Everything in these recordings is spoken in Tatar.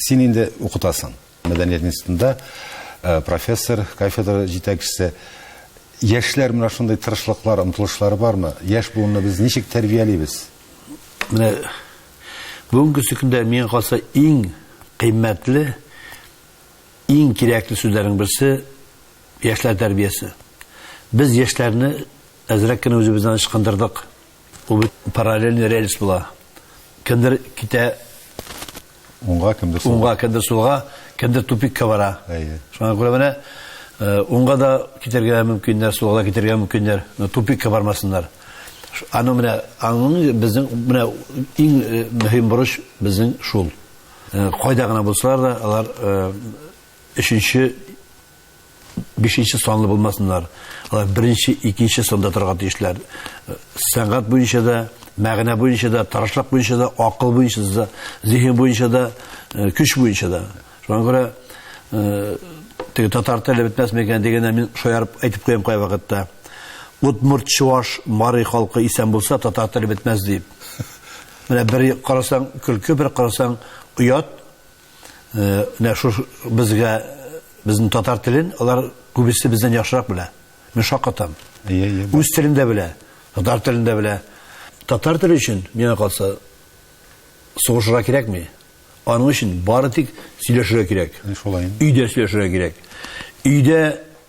Син инде укытасың. Мәдәният институтында э, профессор, кафедра җитәкчесе. Яшьләр менә шундый тырышлыклар, омтылышлары бармы? Яшь буынны без ничек тәрбиялибез? Менә бүгенге көндә миңа калса иң кыйммәтле, иң кирәкле сүзләрнең берсе яшьләр тәрбиясе. Без яшьләрне әзрәк кенә үзебездән ычкындырдык. Ул бит параллельный рельс була. Кемдер китә уңга, кемдер сулга. Уңга, кемдер сулга, кемдер тупикка бара. Әйе. Шуңа күрә менә э, уңга да китәргә мөмкиннәр, сулга да китәргә мөмкиннәр, но тупикка бармасыннар. Аны менә аның безнең менә иң э, мөһим бурыч безнең шул. Э, кайда гына булсалар да, алар өченче бишенче санлы булмасыннар. Алар беренче, икенче санда торырга тиешләр. Сәнгать буенча да, мәгънә буенча да, тырышлык буенча да, акыл буенча да, зиһен буенча да, э, көч буенча да. Шуңа күрә э, теге татар теле бетмәс микән дигәндә мин шаярып әйтеп куям кай вакытта. Удмурт, чуаш, мари халкы исән булса, татар теле бетмәс дип. Менә бер карасаң көлке, бер карасаң оят, Менә шу безгә безнең татар телен алар күбесе бездән яхшырак белә. Мин шаккатам. Үз телен дә белә, татар телен дә белә. Татар теле өчен миңа калса сугышырга кирәкми. Аның өчен бары тик сөйләшергә кирәк. Шулай. Өйдә сөйләшергә кирәк. Өйдә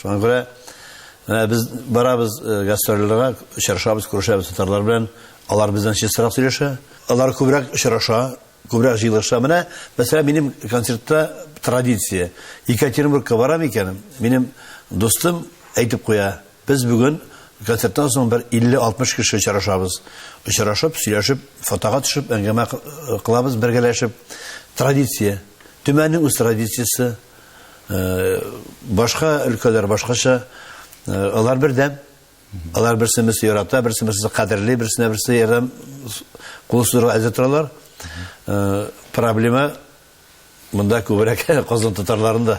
Шуңа күрә менә без барабыз э, гастрольләргә, очрашабыз, күрешәбез татарлар белән. Алар бездән чистарак сөйләшә. Алар күбрәк очраша, күбрәк җыелыша. Менә, мәсәлән, минем концертта традиция. Екатеринбургка барам икән, минем дустым әйтеп куя, без бүген концерттан соң бер 50-60 кеше очрашабыз. Очрашып, сөйләшеп, фотога төшеп, әңгәмә кылабыз бергәләшеп. Традиция. Төмәннең үз традициясе. Башка өлкәләр башкача, алар бердәм. Алар берсе берсе ярата, берсе берсе кадерли, берсенә берсе ярдәм кул сузырга әзер торалар. Проблема монда күбрәк казан татарларында.